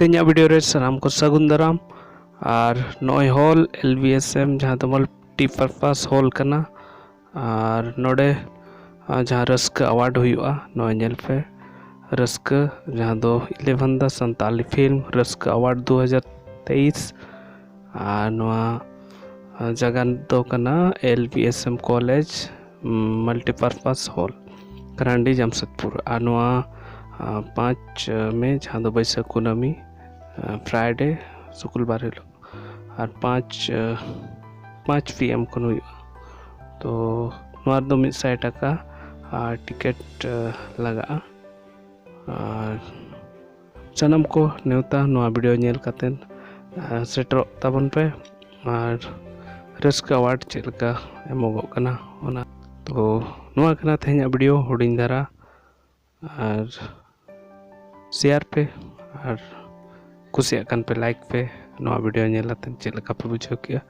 ᱛᱮᱦᱮᱧᱟᱜ ᱵᱷᱤᱰᱤᱭᱳ ᱨᱮ ᱥᱟᱱᱟᱢ ᱠᱚ ᱥᱟᱹᱜᱩᱱ ᱫᱟᱨᱟᱢ ᱟᱨ ᱱᱚᱜᱼᱚᱭ hall L B S M ᱡᱟᱦᱟᱸ ᱫᱚ ᱢᱟᱞᱴᱤ ᱯᱟᱨᱯᱟᱥ ᱦᱚᱞ ᱠᱟᱱᱟ ᱟᱨ ᱱᱚᱰᱮ ᱡᱟᱦᱟᱸ ᱨᱟᱹᱥᱠᱟᱹ ᱟᱣᱟᱨᱰ ᱦᱩᱭᱩᱜᱼᱟ ᱱᱚᱜᱼᱚᱭ ᱧᱮᱞ ᱯᱮ ᱨᱟᱹᱥᱠᱟᱹ ᱡᱟᱦᱟᱸ ᱫᱚ ᱤᱞᱮᱵᱷᱮᱱ ᱫᱟ ᱥᱟᱱᱛᱟᱞᱤ ᱯᱷᱤᱞᱢ ᱨᱟᱹᱥᱠᱟᱹ ᱟᱣᱟᱨᱰ ᱫᱩ ᱦᱟᱡᱟᱨ ᱛᱮᱭᱤᱥ ᱟᱨ ᱱᱚᱣᱟ ᱡᱟᱭᱜᱟ ᱫᱚ ᱠᱟᱱᱟ L B S M college multipurpose hall Karandih Jamshedpur ᱟᱨ ᱱᱚᱣᱟ ᱯᱟᱸᱪ ᱢᱮ ᱡᱟᱦᱟᱸ ᱫᱚ ᱵᱟᱹᱭᱥᱟᱹᱠᱷ ᱠᱩᱱᱟᱹᱢᱤ ᱯᱷᱨᱟᱭᱰᱮ ᱥᱩᱠᱩᱞ ᱵᱟᱨ ᱦᱤᱞᱳᱜ ᱟᱨ ᱯᱟᱸᱪ ᱯᱟᱸᱪ ᱯᱤ ᱮᱢ ᱠᱷᱚᱱ ᱦᱩᱭᱩᱜᱼᱟ ᱛᱚ ᱱᱚᱣᱟ ᱨᱮᱫᱚ ᱢᱤᱫ ᱥᱟᱭ ᱴᱟᱠᱟ ᱟᱨ ᱴᱤᱠᱤᱴ ᱞᱟᱜᱟᱜᱼᱟ ᱟᱨ ᱥᱟᱱᱟᱢ ᱠᱚ ᱱᱮᱣᱛᱟ ᱱᱚᱣᱟ ᱵᱷᱤᱰᱤᱭᱳ ᱧᱮᱞ ᱠᱟᱛᱮᱫ ᱥᱮᱴᱮᱨᱚᱜ ᱛᱟᱵᱚᱱ ᱯᱮ ᱟᱨ ᱨᱟᱹᱥᱠᱟᱹ ᱟᱣᱟᱨᱰ ᱪᱮᱫ ᱞᱮᱠᱟ ᱮᱢᱚᱜᱚᱜ ᱠᱟᱱᱟ ᱚᱱᱟ ᱛᱚ ᱱᱚᱣᱟ ᱠᱟᱱᱟ ᱛᱮᱦᱮᱧᱟᱜ ᱵᱷᱤᱰᱤᱭᱳ ᱦᱩᱰᱤᱧ ᱫᱷᱟᱨᱟ ᱟᱨ ᱥᱮᱭᱟᱨ ᱯᱮ ᱟᱨ ᱠᱩᱥᱤᱭᱟᱜ ᱠᱟᱱ ᱯᱮ ᱞᱟᱭᱤᱠ ᱯᱮ ᱱᱚᱣᱟ ᱵᱷᱤᱰᱤᱭᱳ ᱧᱮᱞ ᱠᱟᱛᱮᱫ ᱪᱮᱫ ᱞᱮᱠᱟ ᱯᱮ ᱵᱩᱡᱷᱟᱹᱣ ᱠᱮᱜᱼᱟ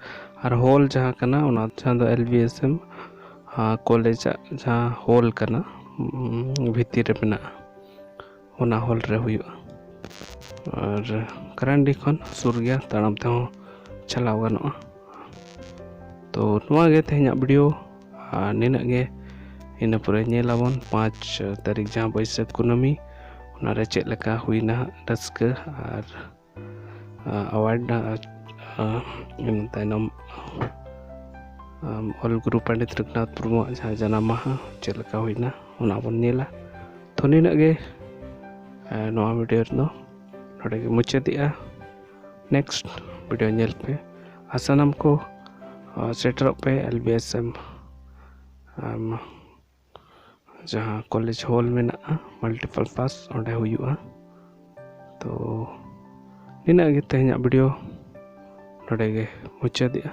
ᱟᱨ ᱦᱚᱞ ᱡᱟᱦᱟᱸ ᱠᱟᱱᱟ ᱚᱱᱟ ᱡᱟᱦᱟᱸ ᱫᱚ ᱮᱞ ᱵᱤ ᱮᱥ ᱮᱢ ᱠᱚᱞᱮᱡᱟᱜ ᱡᱟᱦᱟᱸ ᱦᱚᱞ ᱠᱟᱱᱟ ᱵᱷᱤᱛᱤᱨ ᱨᱮ ᱢᱮᱱᱟᱜᱼᱟ ᱚᱱᱟ ᱦᱚᱞ ᱨᱮ ᱦᱩᱭᱩᱜᱼᱟ ᱟᱨ ᱠᱟᱨᱟᱱᱰᱤ ᱠᱷᱚᱱ ᱥᱩᱨ ᱜᱮᱭᱟ ᱛᱟᱲᱟᱢ ᱛᱮᱦᱚᱸ ᱪᱟᱞᱟᱣ ᱜᱟᱱᱚᱜᱼᱟ ᱛᱚ ᱱᱚᱣᱟ ᱜᱮ ᱛᱮᱦᱮᱧᱟᱜ ᱵᱷᱤᱰᱤᱭᱳ ᱟᱨ ᱱᱤᱱᱟᱹᱜ ᱜᱮ ᱤᱱᱟᱹ ᱯᱚᱨᱮ ᱧᱮᱞᱟᱵᱚᱱ ᱯᱟᱸᱪ ᱛᱟᱹᱨᱤᱠᱷ ᱡᱟᱦᱟᱸ ᱵᱟᱹᱭᱥᱟᱹᱠᱷ ᱠᱩᱱᱟᱹᱢᱤ ᱚᱱᱟᱨᱮ ᱪᱮᱫ ᱞᱮᱠᱟ ᱦᱩᱭᱱᱟ ᱨᱟᱹᱥᱠᱟᱹ ᱟᱨ ᱟᱣᱟᱨᱰ ᱤᱱᱟᱹ ᱛᱟᱭᱱᱚᱢ ᱚᱞ ᱜᱩᱨᱩ ᱯᱚᱱᱰᱤᱛ ᱨᱚᱜᱷᱩᱱᱟᱛᱷ ᱢᱩᱨᱢᱩᱣᱟᱜ ᱡᱟᱦᱟᱸ ᱡᱟᱱᱟᱢ ᱢᱟᱦᱟ ᱪᱮᱫ ᱞᱮᱠᱟ ᱦᱩᱭᱱᱟ ᱚᱱᱟ ᱵᱚᱱ ᱧᱮᱞᱟ ᱛᱚ ᱱᱤᱱᱟᱹᱜ ᱜᱮ ᱱᱚᱣᱟ ᱵᱷᱤᱰᱤᱭᱳ ᱨᱮᱫᱚ ᱱᱚᱰᱮ ᱜᱮ ᱢᱩᱪᱟᱹᱫᱮᱜᱼᱟ ᱱᱮᱠᱥᱴ ᱵᱷᱤᱰᱤᱭᱳ ᱧᱮᱞ ᱯᱮ ᱟᱨ ᱥᱟᱱᱟᱢ ᱠᱚ ᱥᱮᱴᱮᱨᱚᱜ ᱯᱮ ᱮᱞ ᱵᱤ ᱮᱥ ᱮᱢ ᱡᱟᱦᱟᱸ ᱠᱚᱞᱮᱡᱽ ᱦᱚᱞ ᱢᱮᱱᱟᱜᱼᱟ ᱢᱟᱞᱴᱤᱯᱟᱞ ᱯᱟᱥ ᱚᱸᱰᱮ ᱦᱩᱭᱩᱜᱼᱟ ᱛᱚ ᱱᱤᱱᱟᱹᱜ ᱜᱮ ᱛᱮᱦᱮᱧᱟᱜ ᱵᱷᱤᱰᱤᱭᱳ ᱱᱚᱰᱮ ᱜᱮ ᱢᱩᱪᱟᱹᱫᱮᱜᱼᱟ